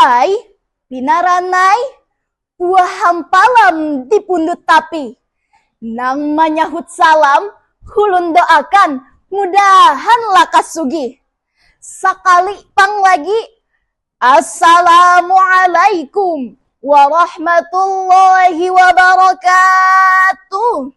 Ai, binaran ai, buah hampalam di pundut tapi. Nang manyahut salam, ulun doakan mudahan lakas sugih. Sakali pang lagi, Assalamualaikum warahmatullahi wabarakatuh.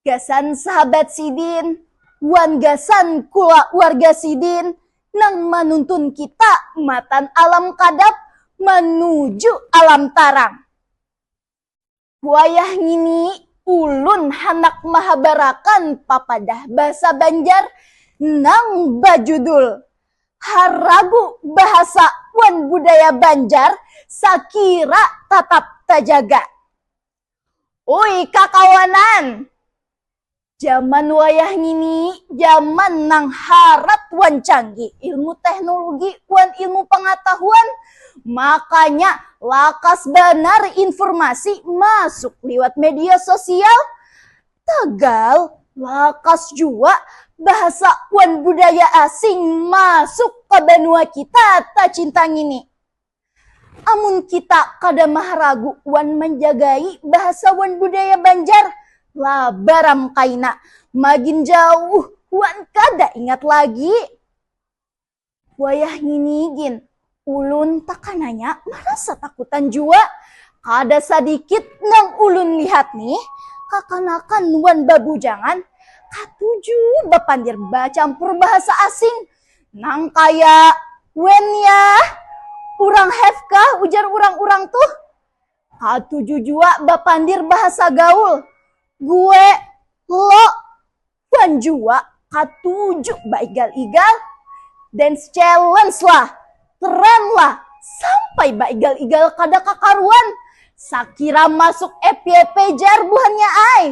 Gasan sahabat sidin wan gasan kulawarga sidin nang manuntun kita matan alam kadap manuju alam tarang. Wayah ngini ulun handak mahabarakan papadah basa Banjar nang bajudul Haragu Bahasa wan Budaya Banjar Sakira Tatap Tajaga. Ui kakawanan, jaman wayah ngini jaman nang harat wan canggih ilmu teknologi wan ilmu pangatahuan, makanya lakas banar informasi masuk liwat media sosial. Tagal, lakas jua bahasa wan budaya asing masuk ka banua kita tacinta ngini. Amun kita kada maharagu wan manjagai bahasa wan budaya Banjar, labaram kaina magin jauh wan kada ingat lagi. Wayah ngini gin, ulun takananya marasa takutan jua. Kada sadikit nang ulun lihat nih, kakanakan wan babujangan katuju bapandir bacampur bahasa asing. Nang kaya, Wen yah, kurang have kah ujar urang-urang tuh? Katuju jua bapandir bahasa gaul. Gue, lo, wan jua katuju baigal-igal. Dance challenge lah, tren lah, sampai baigal-igal kada kakaruan. Sakira masuk FYP jar buhannya ai.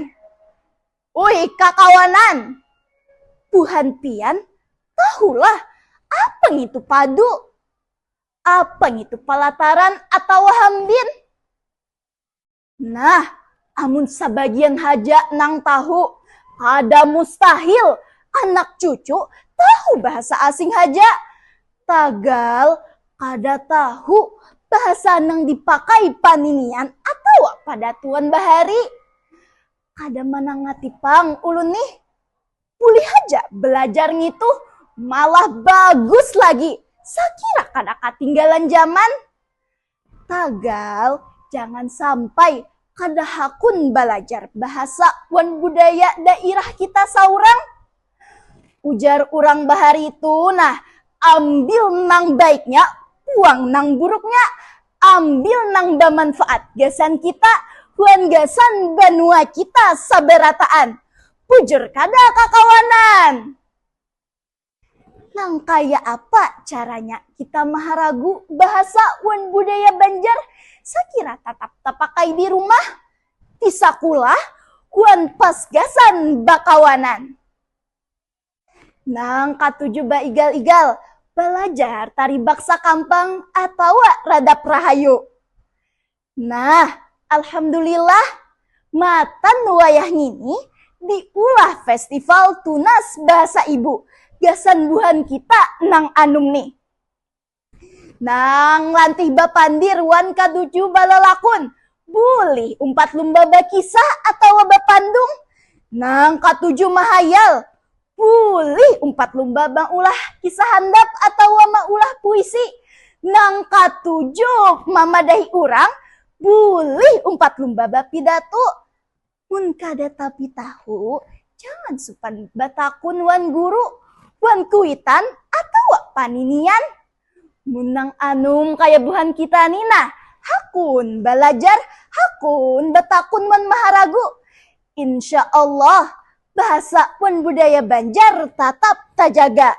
Ui kakawanan, buhan pian tahulah apa ngitu padu, apa ngitu palataran atawa hambin. Nah, amun sabagian haja nang tahu, kada mustahil anak cucu tahu bahasa asing haja. Tagal kada tahu bahasa nang dipakai paninian atawa padatuan bahari. Kada manangati pang ulun nih. Bulih haja belajar ngitu, malah bagus lagi, sakira kada katinggalan zaman. Tagal, jangan sampai kada hakun balajar bahasa wan budaya dairah kita saurang. Ujar urang bahari tu nah, ambil nang baiknya, buang nang buruknya, ambil nang bamanfaat gasan kita wan gasan banua kita sabarataan, bujur kada kakawanan. Nang kaya apa caranya kita maharagu bahasa wan budaya Banjar sakira tatap tapakai di rumah? di sakulah wan pas gasan bakawanan. Nang katuju baigal-igal balajar tari baksa kampang atawa radap rahayu. Nah, alhamdulillah matan wayah ngini diulah Festival Tunas Bahasa Ibu gasan buhan kita nang anum nih. Nang lantih bapandir wan kaducu balalakun, bulih umpat lumba bakisah atawa bapandung. Nang katuju mahayal, bulih umpat lumba maulah kisah handap atawa maulah puisi. Nang katuju mamadahi urang, bulih umpat lumba bapidatu. Mun kada tapi tahu, jangan supan batakun wan guru, wan kuitan atawa paninian. Mun nang anum kaya buhan kita ni nah, hakun balajar, hakun batakun wan maharagu. Insya Allah, bahasa wan budaya Banjar tatap tajaga.